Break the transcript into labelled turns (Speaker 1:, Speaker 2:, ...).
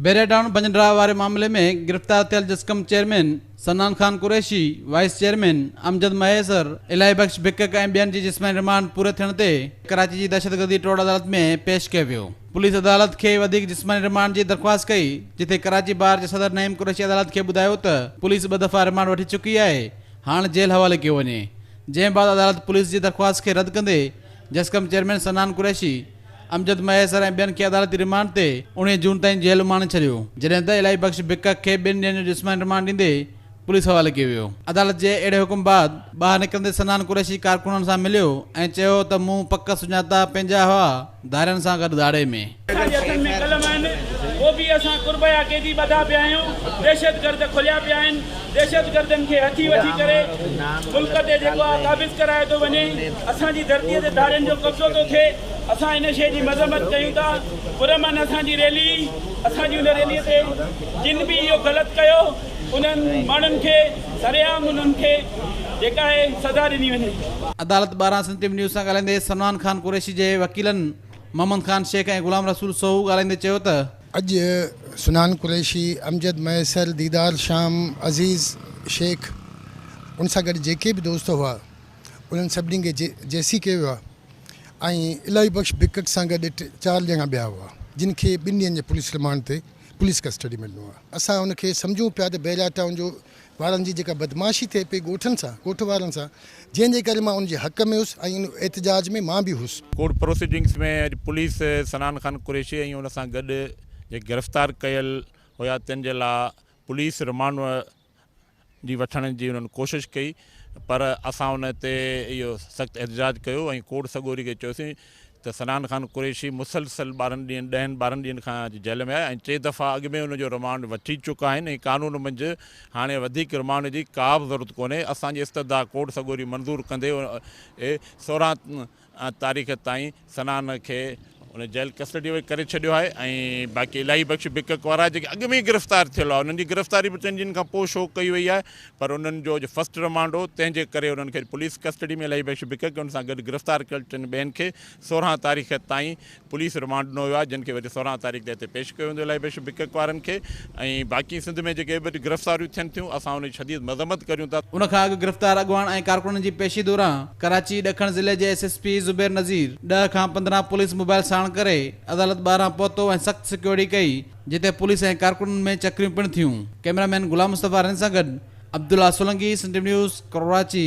Speaker 1: بيريڊان بنجنڊراهه واري معاملي ۾ گرفتار ٿيل جسقم chairman Sanan Khan Qureshi, vice chairman Amjad Mahesar, Ilahi Bakhsh Bakak ۽ ٻين جي جسماني رمانڊ پوري ٿيڻ تي ڪراچي جي دهشتگردي ٽوڙ عدالت ۾ پيش ڪيو ويو. پوليس عدالت کي وڌيڪ جسماني رمانڊ جي درخواست ڪئي، جتي ڪراچي بار جي صدر نعيم قريشي عدالت کي ٻڌايو ته پوليس ٻه دفعا رمانڊ وٺي چڪي آهي، هاڻ جيل حوالي ڪيو وڃي. جنهن بعد عدالت پوليس جي درخواست کي رد ڪندي جسقم چيئرمين سنان قريشي، امجد مهيسر ۽ ٻين کي عدالتي ريمانڊ تي اوڻيهه جون تائين جيل اماڻي ڇڏيو، جڏهن ته الاهي بخش بڪڪ کي ٻن ڏينهن جو جسماني ريمانڊ ڏيندي پوليس حوالي ڪيو ويو. عدالت جي اهڙي حڪم بعد ٻاهر نڪرندي سنان قريشي ڪارڪنن سان مليو ۽ چيو ته مون پڪ سڃاتا پنهنجا هئا ڌارين سان گڏ ڌاڙي ۾. اسان جي هٿن ۾ قلم آهن، او بي اي سان قربيا قيدي ٻڌا پيا آهيون، دهشتگرد
Speaker 2: کليا پيا آهن، دهشتگردن کي هٿي وٺي ڪري ملڪ تي جيڪو آهي قابض ڪرايو ٿو وڃي اسان جي ڌرتي تي ڌارين جو قبضو ٿو ٿئي اسان ان شي جي مذمت ڪيون ٿا پرامن اسان جي ريلي هئي اسان جي ان ريلي تي جن به اهو غلط ڪيو انهن ماڻهن کي سرعام انهن کي جيڪا آهي سزا ڏني وڃي. عدالت ٻاهران
Speaker 1: سنڌ ٽي وي نيوز سان ڳالهائيندي سمنان خان قريشي جي وڪيلن محمد خان شيخ ۽ غلام رسول سوهو ڳالهائيندي چيو ته اڄ
Speaker 3: سنان قريشي، امجد ميسر، ديدار شام، عزيز شيخ ان سان گڏ جيڪي به دوست هئا انهن سڀني کي جي سي ڪيو ويو آهي ۽ الاهي بخش بگٽ سان گڏ ٽي چار ڄڻا ٻيا هئا جن کي ٻن ڏينهن جي پوليس رمانڊ تي پوليس ڪسٽڊي ۾ ڏنو آهي. اسان ان کي سمجهون پيا ته بحريا ٽائون جو وارن جي جيڪا بدمعاشي ٿئي پئي ڳوٺن سان، ڳوٺ وارن سان، جنهن جي ڪري مان ان جي حق ۾ هيس ۽ ان احتجاج ۾ مان به هيس. ڪورٽ پروسيڊنگز ۾
Speaker 4: اڄ پوليس صنعان خان قريشي ۽ ان سان گڏ جيڪي گرفتار ڪيل هيا تن جي لا پوليس رمانڊ جي وٺڻ جي انهن ڪوشش ڪئي پر اسان ان تي اهو سخت احتجاج ڪيو ۽ ڪورٽ سڳوري کي چيوسين ته صنعان خان قريشي مسلسل ٻارهن ڏينهن ڏهن ٻارهن ڏينهن کان اڄ جيل ۾ آهي ۽ ٽي دفعا اڳ ۾ ان جو رمانڊ وٺي چڪا آهن ۽ قانون منجهه هاڻي وڌيڪ رمانڊ جي ڪابه ضرورت ڪونهي اسان جي استدعا ڪورٽ سڳوري منظور ڪندي سورهن تاريخ تائين صنعان کي ان جيل ڪسٽڊي ۾ ڪري ڇڏيو آهي ۽ باقي الاهي بخش بڪڪ وارا جيڪي اڳ ۾ ئي گرفتار ٿيل هئا انهن جي گرفتاري به ٽن ڏينهن کان پوء شو ڪئي وئي آهي پر انهن جو اڄ فرسٽ رمانڊ هو، تنهن جي ڪري انهن کي اڄ پوليس ڪسٽڊي ۾ الهي بخش بڪ ڪن سان گڏ گرفتار ڪيل ٽن ٻين کي سورهن تاريخ تائين پوليس رمانڊ ڏنو ويو آهي، جن کي وجهه سورهن تاريخ تي هتي پيش ڪيو ويندو الهي بخش بڪ وارن کي ۽ باقي سنڌ ۾ جيڪي به اڄ گرفتاريون ٿين ٿيون اسان ان جي شديد مذمت ڪريون ٿا. ان کان اڳ گرفتار
Speaker 1: اڳواڻ ۽ ڪارڪنن جي پيشي دوران ڪراچي ڏکڻ ضلعي جي S S P Zubair Nazir ڏهه کان پندرهن پوليس موبائيل ساڻ ڪري عدالت ٻاهران پهتو ۽ سخت سيڪيورٽي ڪئي، جتي پوليس ۽ ڪارڪنن ۾ چڪريون پڻ ٿيون. ڪئميرا مين غلام مصطفيٰ رند سان گڏ عبدالله سولنگي، سنڌ نيوز، ڪراچي.